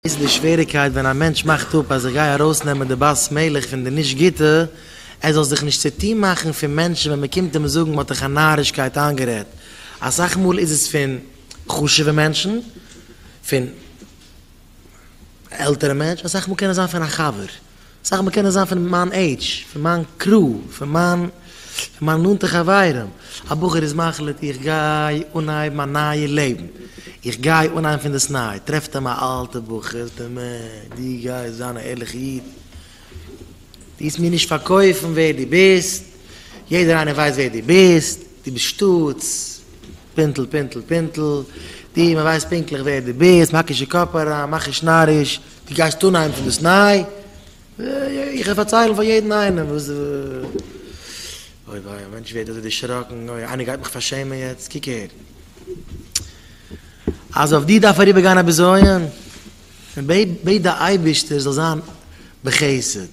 איז די שוועריקייט ווען א מענטש מאכט אפ אז איך גיי ארויסנעמען די בת מלך פון די נישט גוטע, ער זאל זיך נישט צוטון מאכן פון מענטשן ווען מען קומט אים זאגן מען האט דיך א נארישקייט איינגערעדט, אסאך מאל איז עס פון חשוב'ע מענטשן, פון עלטערע מענטש, אסאך מאל קען עס זיין פון א חבר. סך הכל קען עס זיין פון מיין עידזש, פון מיין קרו, פון מיין פון מיין נאנטע חברים, א בחור איז מחליט איך גיי אנהייבן א נייע לעבן, איך גיי אנהייבן פונדאסניי, טרעפט אים א אלטע בחור, זאגט אים אה, דו גייסט זיין א ערליכע איד, טוהסט מיר נישט פארקויפן ווער דו ביסט, יעדער איינער ווייסט ווער דו ביסט, דו ביסט שטאטס, פינטל פינטל פינטל, דו, מען ווייסט פונקטליך ווער דו ביסט, מען האקט נישט אין קאפ אריין, מאך נישט נאריש. דו גייסט אנהייבן פון דאס ניי? איך וועל פארציילן פאר יעדן איינעם וואס די. אוי וויי, א מענטש ווערט אזוי דערשראקן, אוי, איינער גייט מיך פארשעמען יעצט, קוק אהער. אז אויף דיר דארף אריבערגיין א בזיון, בעט די אייבערשטער זאל זיין בחסד,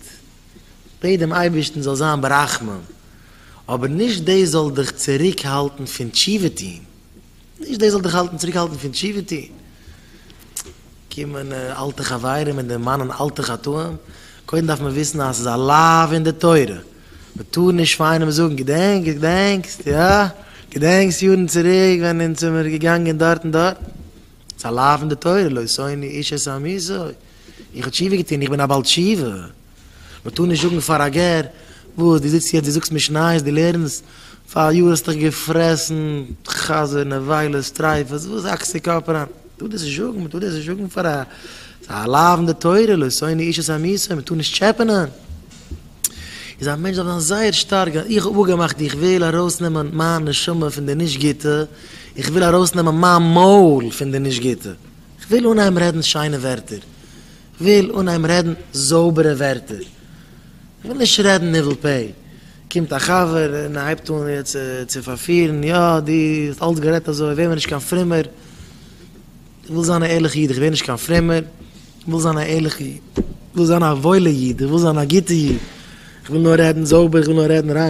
בעט דעם אייבערשטן זאל זיין ברחמים, אבער נישט דאס זאל דיך צוריקהאלטן פון תשובה טון. נישט דאס זאל דיך האלטן צוריק האלטן פון תשובה טון, קומען אלטע חברים און דערמאנען אלטע חטאים, קודם דארף מען וויסן אז עס איז א לאו אין די תורה, מען טאר נישט פאר איינעם זאגן געדענקסט געדענקסט יא? געדענקסט יארן צוריק ווען אונז זעמיר געגאנגען דארט און דארט? עס איז א לאו אין די תורה, לא ישאני איש את עמיתו, איך האב תשובה געטון, איך בין א בעל תשובה, מען טאר נישט זאגן פאר א גר, וואס דו זיצט יעצט דו זאגסט משניות, דו לערנסט, פאר א יאר האסט דיך געפרעסן, חזר, נבילות, טרייפות, וואס האקסט די קאפ אריין? מען טאר דאס נישט זאגן, מען טאר דאס נישט זאגן פאר א, ס'איז א לאו אין די תורה, לא שונא איש את עמיתו, מען טאר נישט טשעפענען. איז א מענטש דארף זיין זייער שטארק, איך האב אפגעמאכט איך וויל ארויסנעמען מיין נשמה פון די נישט גוטע, איך וויל ארויסנעמען מיין מויל פון די נישט גוטע, איך וויל אנהייבן רעדן שיינע ווערטער, וויל אנהייבן רעדן זויבערע ווערטער, כ'וויל נישט רעדן ניבול פה, קומט א חבר און הייבט אן יעצט צו פארפירן, יא, דו האסט אלץ גערעדט אזוי, ווער מיר נישט קיין פרומער, כ'וויל זיין א ערליכע איד, כ'ווער נישט קיין פרומער, כ'וויל זיין א ערליכע איד, כ'וויל זיין א וואוילע איד, כ'וויל זיין א גוטע איד, כ'וויל נאר רעדן זויבער, כ'וויל נאר רעדן ריין.